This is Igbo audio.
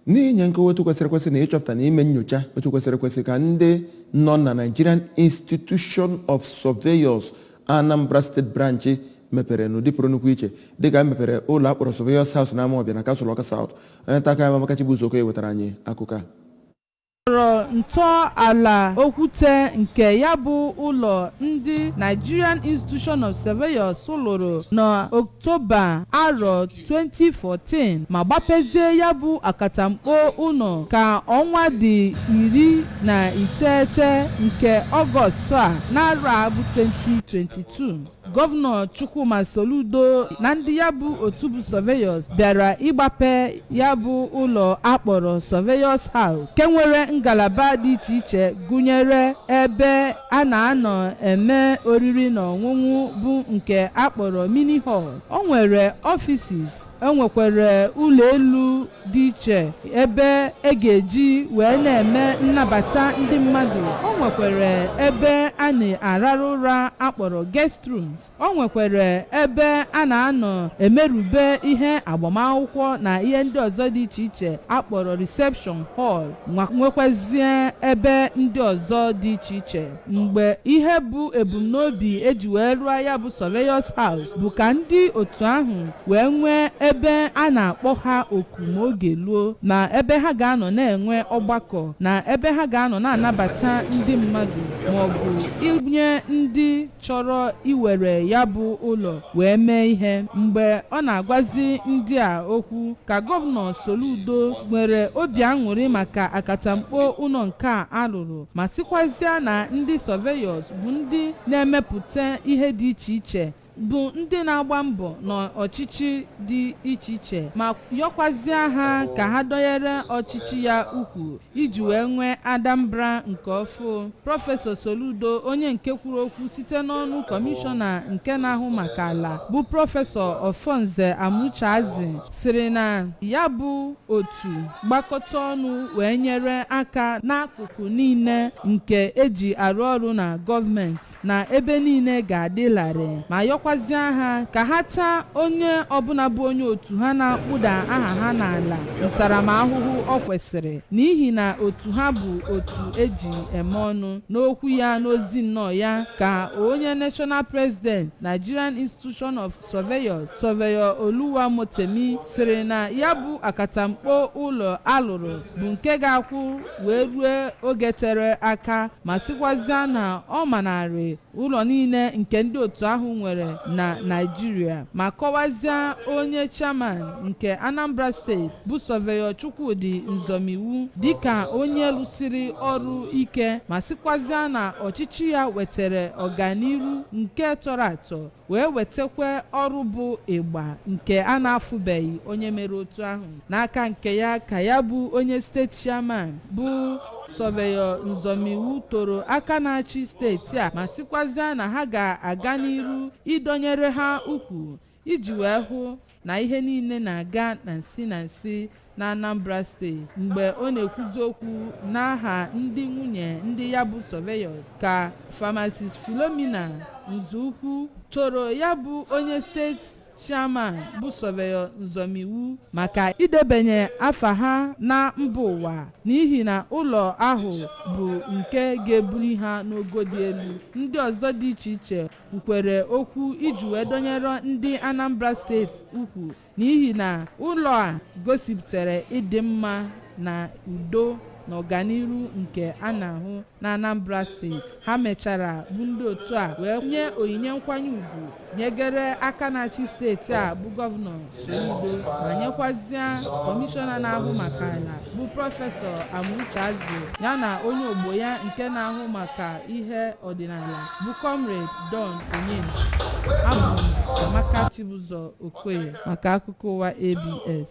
N'inye nkọwa otu kwesịrị ekwesị na ịchọpụta na ime nyocha otu kwesịrị ekwesị ka ndị nọ na Nigerian Institution of Surveyors Anambra State Branch mepere n'ụdị pụrụ nnukwu iche dịka e mepere ụlọ a kpọrọ Surveyors House na Amawbịa na Kansụl Ọka South. Onye nta akụkọ anyị Amaka Chibuzo Okoye wetara anyị akụkọ a. tọrọ ntọala okwute nke ya bụ ụlọ ndị Nigerian Institution of Surveyors lụrụ n'Ọktoba arọ 2014 ma gbapezie ya bụ akatamkpo ụlọ ka ọnwa dị iri na iteghete nke Ọgọstụ a n'arọ a bụ 2022 gọvanọ chukwuma soludo na ndị ya bụ otu bụ surveyors bịara ịgbape ya bụ ụlọ a kpọrọ surveyors house nke nwere ngalaba dị iche iche gụnyere ebe a na-anọ eme oriri na ọṅụṅụ bụ nke a kpọrọ mini hall o nwere ọfisis o nwekwara ụlọ elu dị iche ebe e ga-eji wee na-eme nnabata ndị mmadụ o nwekwara ebe a na-ararụ ụra a kpọrọ guest rooms o nwekwara ebe a na-anọ emerube ihe agbamakwụkwọ na ihe ndị ọzọ dị iche iche a kpọrọ reception hall nwekwazie ebe ndị ọzọ dị iche iche mgbe ihe bụ ebumnobi e ji wee rụọ ya bụ surveyors house bụ ka ndị otu ahụ wee nwee ebe a na-akpọ ha oku ma oge luo na ebe ha ga-anọ na-enwe ọgbakọ na ebe ha ga-anọ na-anabata ndị mmadụ ma ọ bụ inye ndị chọrọ iwere ya bụ ụlọ wee mee ihe mgbe ọ na-agwazi ndị a okwu ka gọvanọ Soludo nwere obi aṅụrị maka akatamkpo ụlọ nke a a lụrụ ma sịkwazịa na ndị surveyors bụ ndị na-emepụta ihe dị iche iche bụ ndị na-agba mbọ n'ọchịchị dị iche iche ma yọkwazịa ha ka ha dọnyere ọchịchị ya ukwu iji wee nwee Anambra nke ọfụ prọfesọ Soludo onye nke kwuru okwu site n'ọnụ kọmishọna nke na-ahụ maka ala bụ prọfesọ Offornze Amucheazi sịrị na ya bụ otu gbakọta ọnụ wee nyere aka n'akụkụ niile nke e ji arụ ọrụ na gọọmenti na ebe niile ga-adị larịị ma yọkwazịa ha ka ha taa onye ọbụla bụ onye otu ha na-akpụda aha ha n'ala ntaramahụhụ ọ kwesịrị n'ihi na otu ha bụ otu e ji eme ọnụ n'okwu ya n'ozi nnọọ ya ka onye national president nigerian institution of Surveyors Surveyor Oluwamotemi sịrị na ya bụ akatamkpo ụlọ a lụrụ bụ nke ga-akwụ wee rue oge tere aka ma sịkwazịa na ọ manarị ụlọ niile nke ndị otu ahụ nwere na Naịjirịa ma kọwazịa onye chairman nke Anambra steeti bụ Surveyor Chukwudi Nzomiwu dịka onye lụsiri ọrụ ike ma sịkwazịa na ọchịchị ya wetara ọganiru nke tọrọ atọ wee wetakwa ọrụ bụ ịgba nke a na-afụbeghị onye mere otu ahụ n'aka nke ya ka ya bụ onye steeti chairman bụ Surveyor Nzomiwu toro aka na-achị steeti a ma sịkwazịa na ha ga-aga n'iru ịdọnyere ha ukwu iji wee hụ na ihe niile na-aga na nsi na nsi n'Anambra State mgbe ọ na-ekwuzi okwu n'aha ndị nwunye ndị ya bụ surveyors ka Pharmacist Philomena Nzọukwu toro ya bụ onye steeti chairman bụ Surveyor Nzomiwu maka idebanye afa ha na mba ụwa n'ihi na ụlọ ahụ bụ nke ga-ebuli ha n'ogo dị elu ndị ọzọ dị iche iche kwukwere okwu iji wee dọnyere ndị anambra steeti ukwu n'ihi na ụlọ a gosipụtara ịdị mma na udo na ọganiru nke a na-ahụ na anambra steeti ha mechara bụ ndị otu a wee nye onyinye nkwanye ugwu nyegere aka na-achị steeti a bụ gọvanọ Soludo ma nyekwazịa kọmishọna na-ahụ maka ala bụ prọfesọ Amucheazi ya na onye ogbo ya nke na-ahụ maka ihe ọdịnala bụ Comrade Don Onyenji abụ m Amaka Chibụzọ Okoye maka akụkọ ụwa ABS